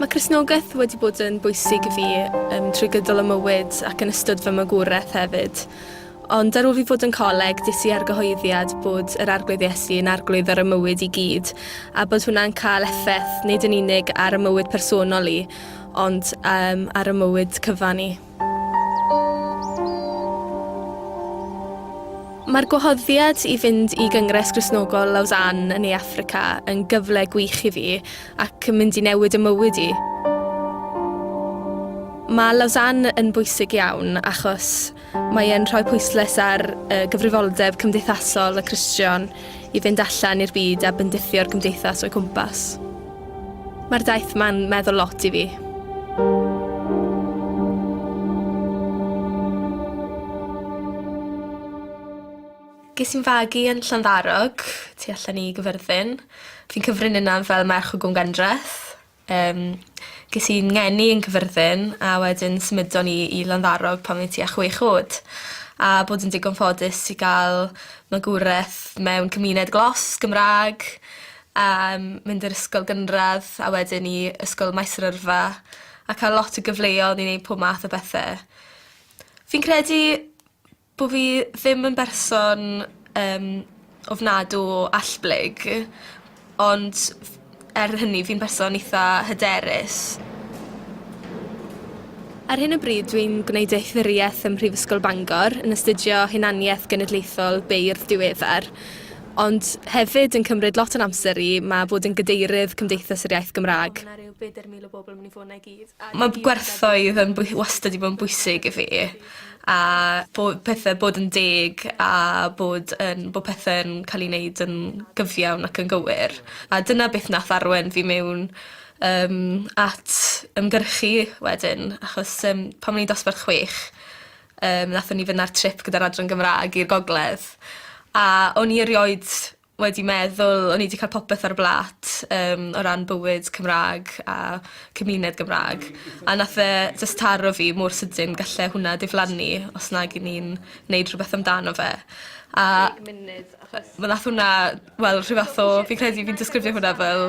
Mae Cristnogaeth wedi bod yn bwysig i fi um, trwy gydol y mywyd ac yn ystod fy magwraeth hefyd. Ond ar ôl fi fod yn coleg, dis i argyhoeddiad bod yr Arglwydd Iesu yn arglwydd ar y mywyd i gyd, a bod hwnna'n cael effaith nid yn unig ar y mywyd personol i, ond um, ar y mywyd cyfan i. Mae'r gwahoddiad i fynd i Gyngres Gristnogol Lausanne yn Ne Affrica yn gyfle gwych i fi ac yn mynd i newid y mywyd i. Mae Lausanne yn bwysig iawn achos mae e'n rhoi pwysles ar y gyfrifoldeb cymdeithasol y Cristion i fynd allan i'r byd a bendithio'r gymdeithas o'u cwmpas. Mae'r daith ma'n meddwl lot i fi. Ges i'n fagu yn Llanddarog, tu allan i Gyfyrddin. Fi'n cyfrin yna fel merch o Gwm Gandreth. Yym ges i'n ngeni yn Cyfyrddin a wedyn symudon ni i Landdarog pan o'n i tua chwech o'd. A bod yn digon ffodus i ga'l magwraeth mewn cymuned glos, Gymra'g. a mynd i'r ysgol gynradd a wedyn i ysgol maes yr yrfa a ca'l lot o gyfleon i neud pob math o bethe. Fi'n credu bo' fi ddim yn berson yym ofnadw o allblyg ond f- er hynny fi'n berson itha hyderus. Ar hyn o bryd dwi'n gwneud deithyddiaeth ym Mhrifysgol Bangor yn astudio hunaniaeth genedlaethol beirdd diweddar. Ond hefyd yn cymryd lot o'n amser i, mae bod yn Gadeirydd Cymdeithas yr Iaith Gymraeg. Mae gwerthoedd yn bwy- wastad 'di bod yn bwysig i fi a bo' pethe bod yn deg a bod yn bo' pethe'n ca'l 'u neud yn gyfiawn ac yn gywir a dyna beth nath arwen fi miwn yym at ymgyrchu wedyn achos yym pan o'n i'n dosbarth chwech Yym nathon ni fynd ar trip gyda'r Adran Gymra'g i'r gogledd a o'n i erioed wedi meddwl o'n i 'di ca'l popeth ar y blat yym o ran bywyd Cymra'g a cymuned Gymra'g a nath e jyst taro fi mor sydyn galle hwnna diflannu os nag 'yn ni'n neud rhwbeth amdano fe a... Deg munud achos... ...ma' nath wnna wel rhyw fath o fi'n credu fi'n disgrifio hwnna fel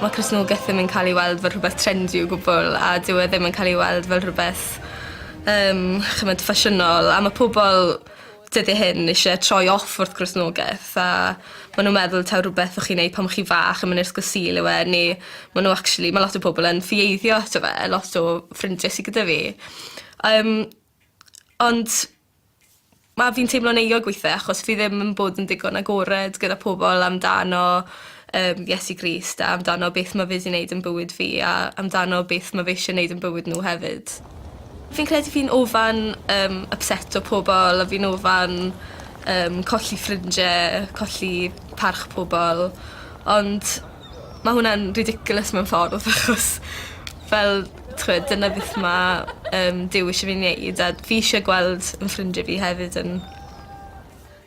Mae Cristnogaeth ddim yn ca'l ei weld fel rhwbeth trendy o gwbwl a dyw e ddim yn ca'l ei weld fel rhwbeth yym ch'mod ffasiynol a ma' pobol dyddie hyn isie troi off wrth Gristnogaeth a ma' nw'n meddwl taw rwbeth o'ch chi'n neud pan o' chi fach a ma'n ysgol Sul yw e ne' ma' n'w actually ma' lot o pobol yn ffieiddio ato fe lot o ffrindie sy gyda fi. Yym. Ond Ma' fi'n teimlo'n euog withe achos fi ddim yn bod yn digon agored gyda pobol amdano yym Iesu Grist a amdano beth ma' fe 'di neud yn bywyd fi a amdano beth ma' fe eisie neud yn bywyd n'w hefyd. Fi'n credu fi'n ofan yym ypseto pobol a fi'n ofan yym colli ffrindie colli parch pobol ond Ma' hwnna'n ridiculous mewn ffordd achos fel t'wod dyna beth ma' yym Duw isie fi neud a fi isie gweld 'yn ffrindie fi hefyd yn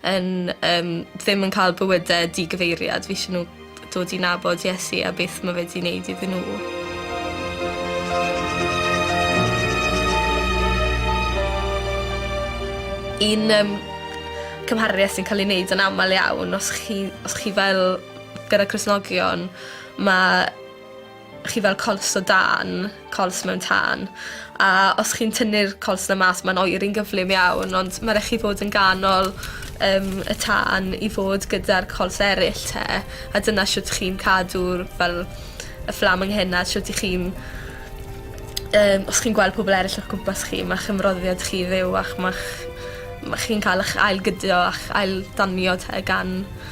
yn yym ddim yn ca'l bywyde digyfeiriad fi isie n'w dod i nabod Iesu a beth ma' fe 'di neud iddyn n'w. Un yym cymharu a sy'n ca'l ei neud yn amal iawn os chi os chi fel Gyda Cristnogion ma' chi fel cols o dân cols mewn tân a os chi'n tynnu'r cols 'na mas ma'n oeri'n gyflym iawn ond ma' rai' chi fod yn ganol yym y tân i fod gyda'r cols eryll 'te a dyna shwt chi'n cadw'r fel y fflam yng nghyna shwt 'ych chi'n yym os chi'n gweld pobol eryll o'ch cwmpas chi ma'ch ymroddiad chi fyw a'ch ma'ch ma' chi'n ca'l 'ych ail gydio a'ch ail danio 'te gan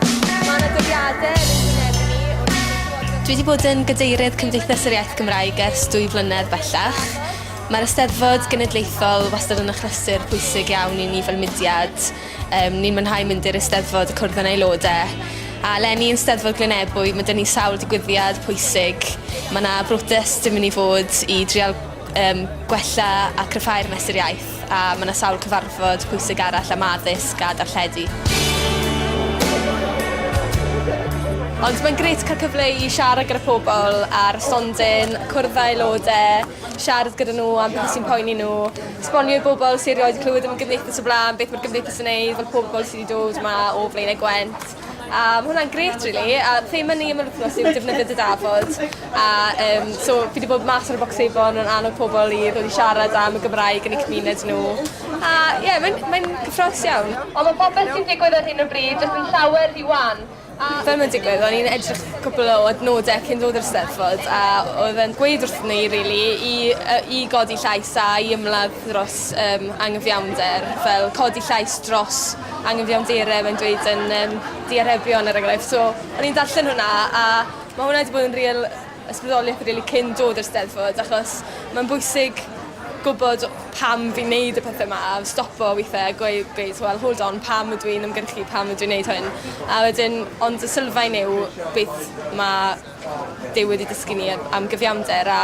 Mae yna dyddiadau yn ein gwynebu ni wrth i ni glywed... Dwi wedi bod yn Gadeirydd Cymdeithas yr Iaith Gymraeg ers dwy flynedd bellach. Mae'r Eisteddfod Genedlaethol wastad yn achlysur pwysig iawn i ni fel mudiad. Um, ni'n mwynhau mynd i'r Eisteddfod a cwrdd yn aelodau. A lenni yn Steddfod Glynebwy, mae dyn ni sawl digwyddiad pwysig. Mae yna brotest yn mynd i fod i drial um, gwella a cryfhau'r mesur iaith. A mae yna sawl cyfarfod pwysig arall am addysg a darlledu. Ond mae'n grêt cael cyfle i siarad gyda phobl ar stondin, cwrdd â aelodau, siarad gyda nhw am beth sy'n poeni nhw, esbonio i bobl sy erioed wedi clywed am y Gymdeithas o blaen beth mae'r Gymdeithas yn ei fel pobl sydd wedi dod yma o Flaenau Gwent. A ma' hwnna'n grêt rili a thema ni am yr wthnos yw defnyddio dy dafod a yym so fi 'di bod mas ar y bocsefon yn annog pobol i ddod i siarad am y Gymraeg yn eu cymuned n'w a ie mae'n mae'n gyffrous iawn. On' ma' popeth sy'n digwydd ar hyn o bryd jyst yn llawer rhy wan a... Fel mae'n digwydd o'n i'n edrych cwpwl o adnodau cyn dod i'r Steddfod a odd e'n gweud wrthon ni rili i yy i godi llais a i ymladd dros yym angyfiawnder fel codi llais dros angyfiawnder mae'n dweud yn um, The Arebion er enghraifft. So, o'n i'n darllen hwnna a mae hwnna wedi bod yn real ysbrydoliaeth rili really cyn dod i'r steddfod achos mae'n bwysig gwybod pam fi'n neud y pethau yma a stopo weithiau gweud, gweud well, hold on, pam ydw i'n ymgyrchu, pam ydw i'n neud hyn. A wedyn, ond y sylfaen yw beth mae Duw wedi dysgu ni yy am gyfiawnder a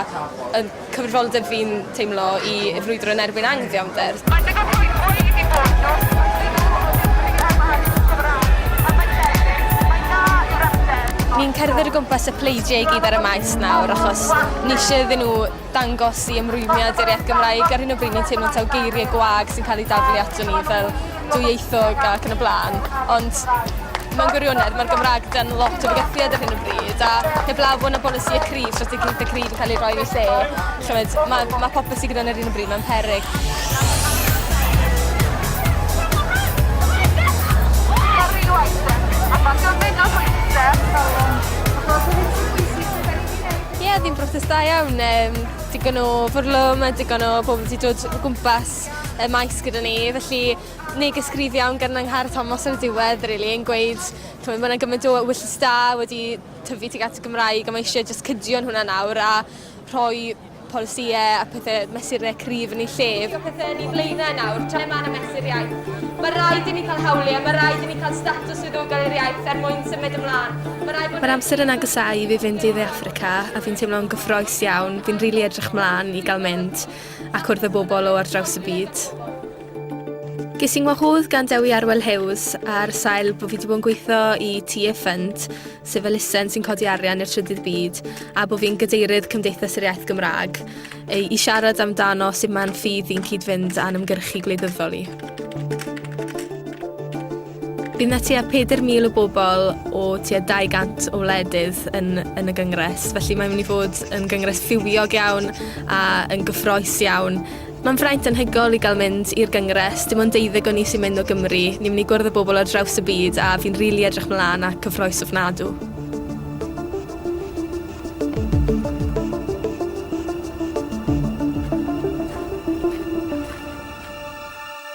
yn cyfrifoldeb fi'n teimlo i i frwydro yn erbyn anghyfiawnder. Mae digon rhwystrau wedi bod dros y blynyddoedd o beth sy'n cael gwared yn y Gymraeg. Yn faterion, mae'n dda yw'r ateb, ond... Ni'n cerdded o gwmpas y pleidiau i gyd ar y Maes nawr achos ni isie iddyn nhw dangos i ymrwymiad i'r iaith Gymraeg ar hyn o bryd ni'n teimlo taw geiriau gwag sy'n cael eu daflu ato ni fel dwyieithog ac yn y blaen ond mewn gwirionedd mae'r Gymraeg dan lot o fygythiad ar hyn o bryd a heblaw bod yna bolisi y cryf, strategaeth y cryf yn cael ei roi yn ei lle, chymryd, mae, mae popeth sy'n gyda ni ar hyn o bryd mewn peryg. Ie, oedd hi'n broses da iawn. Um, digon o fwrlwm a digon o bobl wedi dod o gwmpas y maes gyda ni. Felly, neges gryf iawn gan Angharad Thomas ar y diwedd, really, yn gweud, mae yna gymaint o wyllus da wedi tyfu tuag at y Gymraeg a mae eisiau just cydio'n hwnna nawr a rhoi polisïau a pethau mesurau cryf yn ei lle. Dio pethau yn ei flaenau nawr, tra mae yna mesur iaith. Mae rhaid i ni cael hawliau, mae rhaid i ni cael status diddordeb i'r iaith er mwyn symud ymlaen. Mae'r amser yn agosáu i fi fynd i Dde Affrica a fi'n teimlo'n gyffroes iawn, fi'n rili edrych mlaen i gael mynd a cwrdd â bobl o ar draws y byd. Ges i'n wahodd gan Dewi Arwel Hughes ar sail bod fi wedi bod yn gweithio i TA Fund, sef elusen sy'n codi arian i'r trydydd byd, a bod fi'n gadeirydd Cymdeithas yr Iaith Gymraeg, i siarad amdano sut mae'n ffydd i'n cyd-fynd â'n ymgyrchu gwleidyddol i. Bydd na tua 4,000 o bobl o tua 200 o wledydd yn, yn y gyngres, felly mae'n mynd i fod yn gyngres fywiog iawn a yn gyffroes iawn. Mae'n fraint anhygol i gael mynd i'r gyngres, dim ond deuddeg o ni sy'n mynd o Gymru, ni'n mynd i gwrdd â bobl ar draws y byd a fi'n rili edrych mlaen at cyffroes ofnadw.